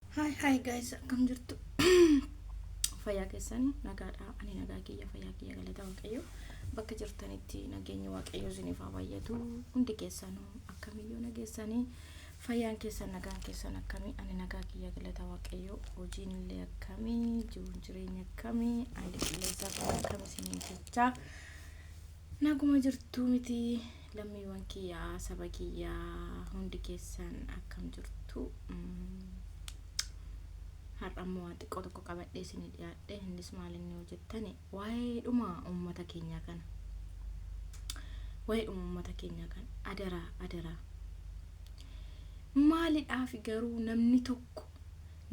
Hi hi guys akkam jirtu fayyaa keessanii nagaadha ani nagaa kiyya fayyaa kiyya galata waaqayyo bakka jirtanitti nageenyi waaqayyo isiniif haa baay'atu hundi keessanuu akkamiyyuu nageessanii fayyaan keessan nagaan keessan akkamii ani nagaa kiyya galata waaqayyo hojiin illee akkamii jiruun jireenya akkamii ani qilleensa akkam isiniin jechaa naguma jirtu miti Lammiiwwan kiyya saba kiyya hundi keessan akkam jirtu har'a immoo waan xiqqoo tokko qabadhee isinii dhiyaadhe innis maal inni yoo jettani waa'ee dhuma uummata keenyaa kana waa'ee dhuma uummata keenyaa kana adaraa adaraa maalidhaafi garuu namni tokko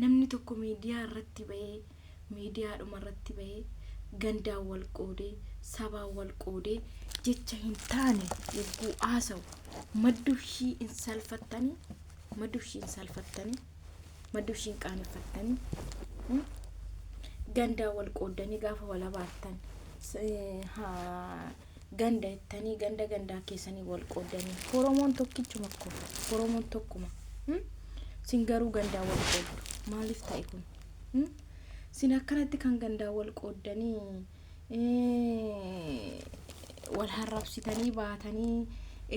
namni tokko miidiyaa irratti ba'ee miidiyaadhumarratti bahee gandaan wal qoodee, sabaan wal qoodee jecha hin taane yogguu haasawu maddushii hin salfattanii? Maddushii hin salfattanii? Maddushii hin qaaneffattanii? Hmm? Gandaan wal qooddanii gaafa wal abaartan s- eh, haa- ganda jettanii ganda gandaa keessanii wal qooddanii Oromoon tokkichuma ko Oromoon tokkuma. Hmm? Sin garuu gandaan wal qooddu. Maaliif ta'e kun? Hmm? Sin akkanatti kan gandaan wal qooddanii eh, wal harrabsitanii baatanii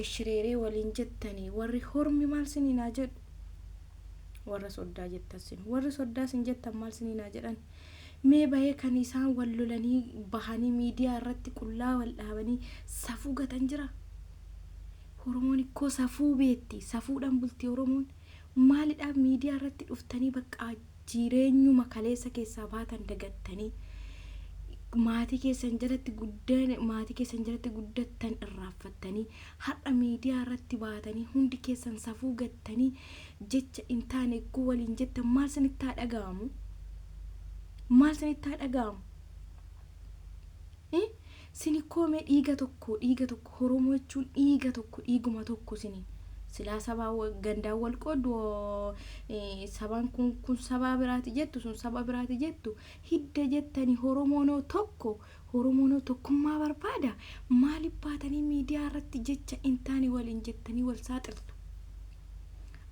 eshireeree waliin jettanii warri hormi maal siniin haa jedhu warra soddaa jettan sin warri soddaa sin jettan maal siniin haa jedhan mee bahee kan isaan wal lolanii bahanii miidiyaa irratti qullaa wal dhaabanii safuu gatan jira Oromoon ikkoo safuu beetti safuudhaan bulti Oromoon Maalidhaa miidiyaa irratti dhuftanii baqqaa jireenyuma kaleessa keessaa baatan dagattanii maatii keessan jalatti guddeen maatii keessan jalatti guddattan irraaffattanii har'a miidiyaa irratti baatanii hundi keessan safuu gattanii jecha hin taane egguu waliin jettan maal sinitti haa dhaga'amu? Maal sinitti haa dhaga'amu? Sin ikkoo mee dhiiga tokko dhiiga tokko horomoo jechuun dhiiga tokko dhiiguma tokko sini silaa sabaa gandaan wal qooddu sabaan kun kun sabaa biraati jettu sun saba biraati jettu hidda jettani horomoonoo tokko horomoonoo tokkummaa barbaada maaliif baatanii miidiyaa irratti jecha hin taane waliin jettanii wal saaxiltu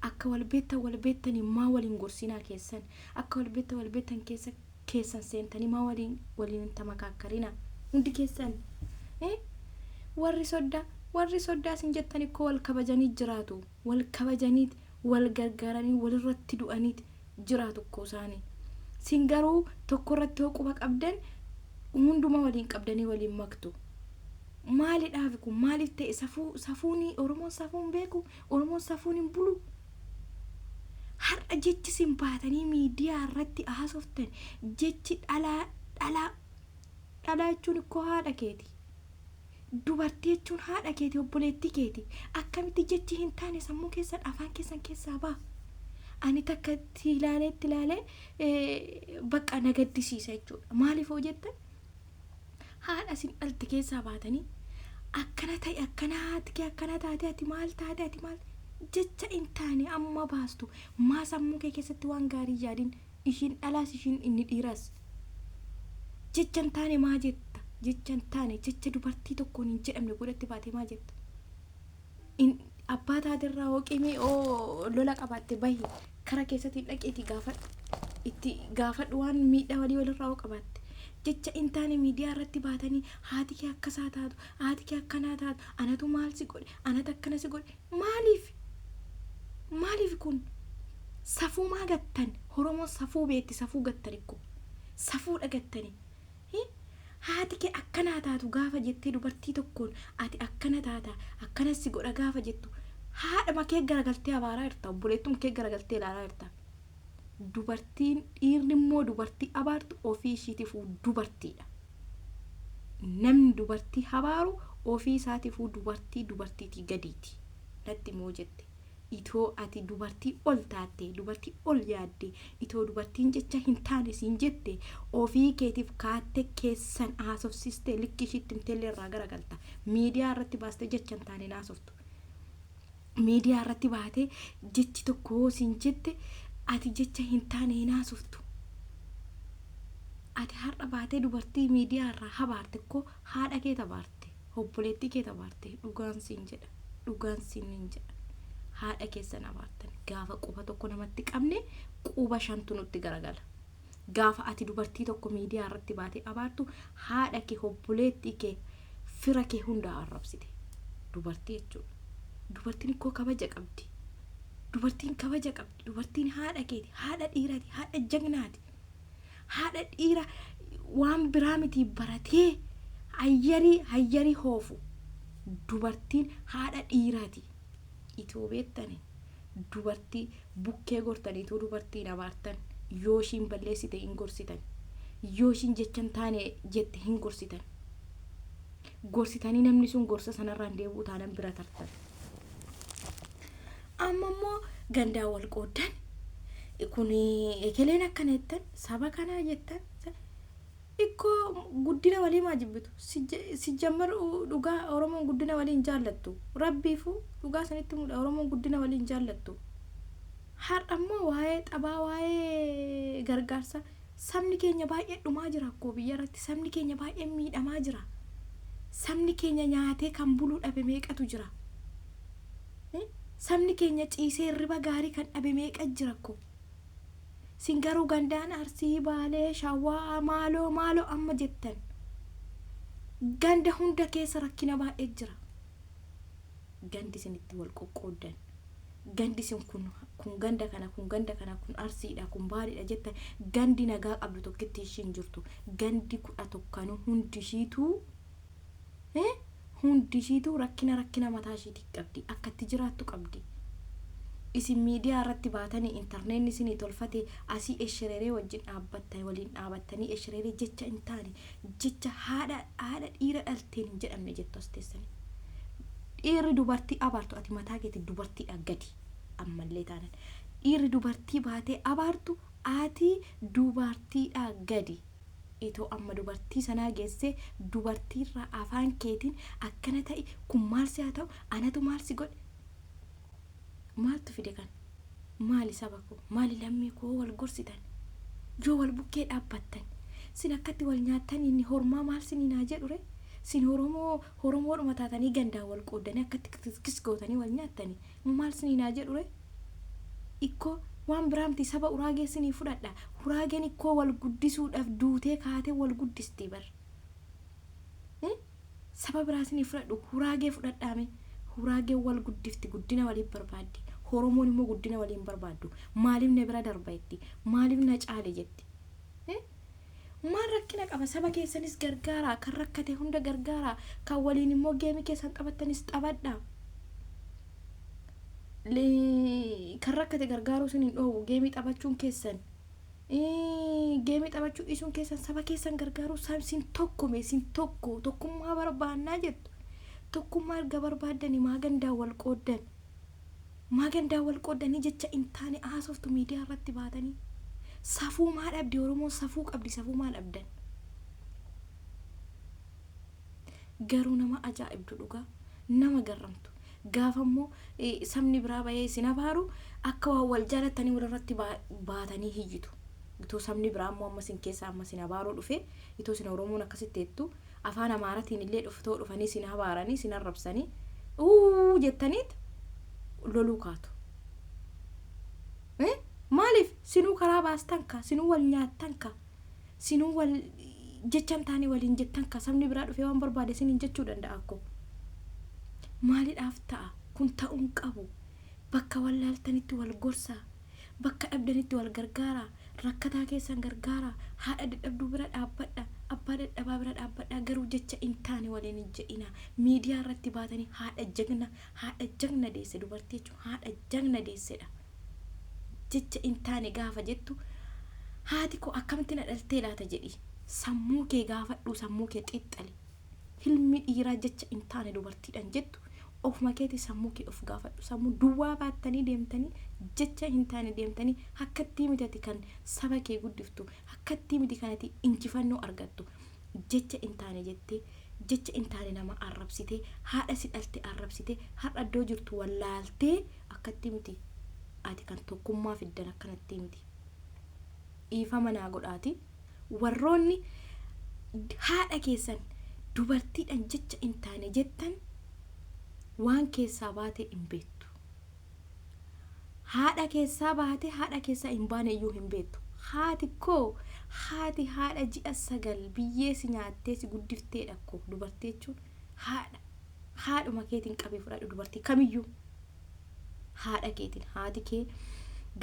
akka wal beektan wal beektanii maa waliin gorsiinaa keessan akka wal beektan wal beektan keessa keessan seentanii maa waliin waliin hin tamakaakkarina hundi keessan ee warri soddaa warri soddaa isin jettan ikkoo wal kabajanii jiraatu wal kabajaniit wal gargaaranii walirratti du'aniit jiraatu ikkoo isaani sin garuu tokko irratti hoo quba qabdan hunduma waliin qabdanii waliin maktu maalidhaafi kun maaliif ta'e safuu safuuni oromoon safuun beeku Oromoon safuun hin bulu. Har'a jechi isin baatanii miidiyaa irratti haasoftan jechi dhalaa dhalaa dhalaa jechuun ikkoo haadha keeti. Dubartii jechuun haadha keeti obboleettii keeti. Akkamitti jechi hin taane sammuu keessan afaan keessan keessaa ba'a. Ani takka itti ilaalee itti ilaalee eh, bakka na gaddisiisa jechuudha. Maaliif hoo jettan haadha isin dhalte keessaa baatanii akkana ta'i akkana haati kee akkana taate ati maal taate ati maal jecha hin taane amma baastu maa sammuu kee keessatti waan gaarii hin yaadin ishiin dhalaas ishiin inni dhiiraas jecha hin taane maa jetta jecha hin taane jecha dubartii tokkoon hin jedhamne godhatti baate maa jetta In- Abbaa taaterraa hooqimii oo lola qabaatte bahi kara keessatti dhaqiiti gaafadhu. Itti gaafadhu waan miidhaa walii walirraa oo qabaatte. Jecha in taane miidiyaa irratti baatanii haati kee akka isaa taatu, haati kee akkanaa taatu, anatu maal si godhe, anatu akkana si godhe. Maaliif? Maaliif kun? Safuumaa gattan. Oromoon safuu beetti, safuu gattan ikko. Safuudha gattanii. Hi! Haati kee akkana haa taatu gaafa jettee dubartii tokkoon ati akkana taata, akkanan si godha gaafa jettu haadhuma kee garagaltee abaaraa jirta, obboleettuma kee garagaltee ilaalaa jirta. Dubartiin, dhiirri immoo dubartii abaartu ofii ishiitifuu dubartiidha. Namni dubartii abaaru ofii isaatiifuu dubartii dubartiitii gadiiti. Natti himi yoo jette. Itoo ati dubartii ol taattee, dubartii ol yaaddee, itoo dubartiin jecha hin taane siin jette, ofii keetiif kaatte keessan haasofsiistee likkii ishiitti himteellee irraa garagalta. Miidiyaa irratti baastee jecha hin taane hin haasoftu. Miidiyaa irratti baatee jechi tokko yoo siin jette ati jecha hin taane hin haasoftu. Ati har'a baatee dubartii miidiyaa irraa habaarte koo haadha keet habaarte. Obboleettii kee tabaarte dhugaan siin jedha dhugaan siinin jedha haadha keessan abaartan gaafa quba tokko namatti qabne quba shantu nutti garagala gaafa ati dubartii tokko miidiyaa irratti baate abaartu haadha kee obboleettii kee fira kee hundaa arrabsite dubartii jechuudha dubartiin ikkoo kabaja qabdi dubartiin kabaja qabdi dubartiin haadha keeti haadha dhiirati haadha jagnaati Haadha dhiira waan biraa mitii baratee hayyarii hayyarii hoofu dubartiin haadha dhiiraati. Itoo beektani dubartii bukkee gortaniituu dubartii hin abaartan. Yoo ishiin balleessite hin gorsitan. Yoo ishiin jecha hin taane jette hin gorsitan. gorsitanii namni sun gorsa sanarraa hin deebi'u taanan bira tartan. Amma immoo gandaa wal qooddan kun ekeleen akkana jettan saba kanaa jettan ikkoo guddina walii maa jibbitu sijjammar dhugaa oromoon guddina walii hin jaallattu rabbiifuu dhugaa sanitti mudha oromoon guddina walii hin jaallattu har'a immoo waa'ee xabaa waa'ee gargaarsa Sabni keenya baay'ee dhumaa jira akkoo biyya irratti sabni keenya baay'een miidhamaa jira sabni keenya nyaatee kan buluu dhabe meeqatu jira Hii? sabni keenya ciisee hirriba gaarii kan dhabe meeqa jira akkoo sin garuu gandaan arsii baalee shawaa maaloo maaloo amma jettan ganda hunda keessa rakkina baay'ee jira gandi isin itti wal qoqqooddan gandi isin kun kun ganda kana kun ganda kana kun arsiidha kun baariidha jetta gandi nagaa qabdu tokkitti ishiin jirtu gandi kudha tokkanu hundi ishiituu eh, hundi ishiituu rakkina rakkina mataa ishiitii qabdi akkatti jiraattu qabdi isin miidiyaa irratti baatanii intarneetni isinii tolfate asii eshireeree wajjin dhaabbatta waliin dhaabattanii eshireeree jecha hin taane Jecha haadha haadha dhiira dhalteen hin jedhamne jettu as teessani. Dhiirri dubartii abaartu ati mataa keeti dubartiidha gadi ammallee taanan. Dhiirri dubartii baatee abaartu ati dubartiidha gadi. Itoo amma dubartii sanaa geessee dubartiirraa afaan keetiin akkana ta'i kun maal si haa ta'u anatu maal si godhe Maaltu fide kana? Maali saba koo, maali lammii koo wal gorsitan? Yoo wal bukkee dhaabbattan, sin akkatti wal nyaattan inni hormaa maal siniin haa jedhu ree? Sin Oromoo, Oromoodhuma taatanii gandaan wal qooddanii akkatti kiskis gootanii wal nyaattanii moo maal siniin haa jedhu ree? Ikkoo waan biraa miti saba Uraagee sinii fudhadha. Uraageen ikkoo wal guddisuudhaf duutee kaatee wal guddisti bar. Saba biraa sinii fudhadhu huraagee fudhadhaa mee huraageen wal guddifti guddina waliif barbaaddi horomoon immoo guddina walii hin barbaaddu maaliif na bira darba jetti maaliif na caale jetti Eh? maal rakkina qaba saba keessanis gargaaraa kan rakkate hunda gargaaraa kan waliin immoo geemii keessan taphattanis taphadhaa Le- kan rakkate gargaaruu sin hin dhoowwu geemii taphachuun keessan Geemii taphachuu dhiisuun keessan saba keessan gargaaruu sab sin tokko mee sin tokko tokkummaa barbaannaa jettu tokkummaa erga barbaaddanii maa gandaa wal qooddan maa gandaa wal qooddanii jecha hin taane haasoftu miidiyaa irratti baatanii safuu maa dhabdi oromoon safuu qabdi safuu maa dhabdan Garuu nama ajaa'ibdu dhugaa. Nama garramtu. Gaafa immoo sabni biraa bahee isin abaaru akka waan wal jaalattanii walirratti baatanii hiyyitu. Itoo sabni biraa immoo amma isin keessaa amma isin abaaruu dhufe itoo isin Oromoon akkasitti jettu afaan Amaaratiin illee dhuftoo dhufanii isin abaaranii isin arrabsanii uu jettaniit loluu kaatu. Maaliif sinuu karaa baastan ka sinuu wal nyaattan ka sinuu wal jechan taane waliin jettan ka sabni biraa dhufee waan barbaade siniin jechuu danda'a akko maalidhaaf ta'a kun ta'uun qabu bakka wal laaltanitti wal gorsaa bakka dhabdanitti wal gargaaraa rakkataa keessan gargaaraa haadha dadhabduu bira dhaabbadha abbaa dadhabaa bira dhaabbadhaa garuu jecha hin taane waliin hin jedhinaa miidiyaa irratti baatanii haadha jagna haadha jagna deesse dubartii jechuun haadha jagna deessedha jecha hin taane gaafa jettu haati koo akkamitti na dhaltee laata jedhi sammuu kee gaafadhuu sammuu kee xiixxali hilmi dhiiraa jecha hin taane dubartiidhaan jettu ofuma keetii sammuu kee of gaafadhu sammuu duwwaa baattanii deemtanii jecha hin taane deemtanii akkattii mitati kan saba kee guddiftu akkattii miti kanati injifannoo argattu jecha in taane jettee jecha in taane nama arrabsitee haadha si dhalte arrabsitee har'a iddoo jirtu wallaaltee akkattii miti ati kan tokkummaa fiddan akkanattii miti dhiifama naa godhaati warroonni haadha keessan dubartiidhan jecha in taane jettan waan keessaa baatee in beektu Haadha keessaa baatee haadha keessaa hin baane iyyuu hin beektu. Haati koo haati haadha ji'a sagal biyyee si nyaattee si guddifteedha akkoo dubartii jechuun haadha. Haadhuma keetiin qabii fudhadhu dubartii kamiyyuu. Haadha keetiin haati kee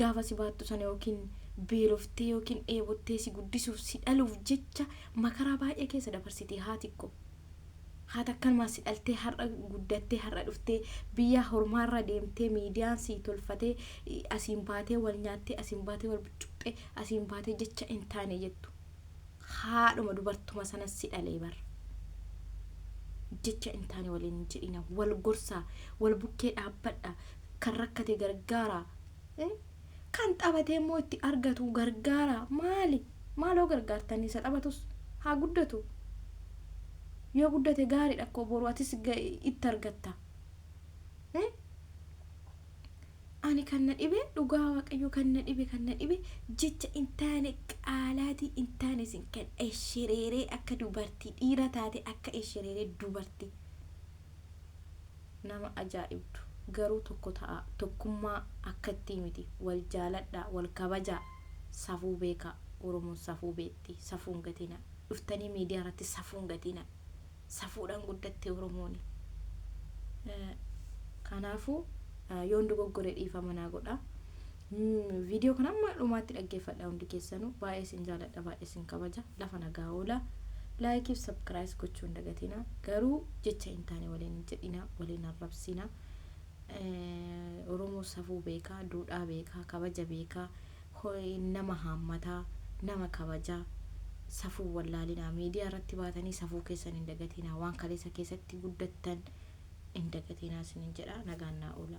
gaafa si baattu sana yookiin beeloftee yookiin dheebottee si guddisuuf si dhaluuf jecha makaraa baay'ee keessa dabarsitee haati koo. Haati akkanumaan si dhaltee har'a guddattee har'a dhuftee biyyaa hormaarra deemtee miidiyaan sii tolfatee asiin baatee wal nyaattee asiin baatee wal buccuqxee asiin baatee jecha hin taane jettu. Haadhuma dubartuma sana si dhalee bar. Jecha hin taane waliin hin jedhina wal gorsaa wal bukkee dhaabbadha kan rakkate gargaaraa. Kan xabatee immoo itti argatu gargaaraa maali? Maaloo gargaartanii isa xabatus haa guddatu. Yoo guddate gaariidha akkoo boru atis itti argatta. Ani kan na dhibe dhugaa waaqayyo kan na dhibe kan na dhibe jecha hin taane qaalaatii hin taane sin kan eshereeree akka dubartii dhiira taate akka eshereeree dubartii. nama ajaa'ibdu garuu tokko ta'aa tokkummaa akkattii miti wal jaaladhaa wal kabajaa safuu beekaa oromoon safuu beekti safuu hin gatinaa dhuftanii miidiyaa irratti safuu hin gatinaa safuudhaan guddatte oromooni kanaafuu yoon dogoggore dhiifama naa godhaa. Video kana amma dhumaatti dhaggeeffadha hundi keessanuu baay'ee sin jaaladha baay'ee sin kabaja lafa nagaa oola laayikii fi sabkiraayis gochuu hin dagatina garuu jecha hin taane waliin hin jedhina waliin arrabsina oromoo safuu beekaa duudhaa beekaa kabaja beekaa nama haammataa nama kabaja safuu wallaalinaa miidiyaa irratti baatanii safuu keessan hin dagatina waan kaleessa keessatti guddattan hin dagatina sinin jedha nagaan naa oola.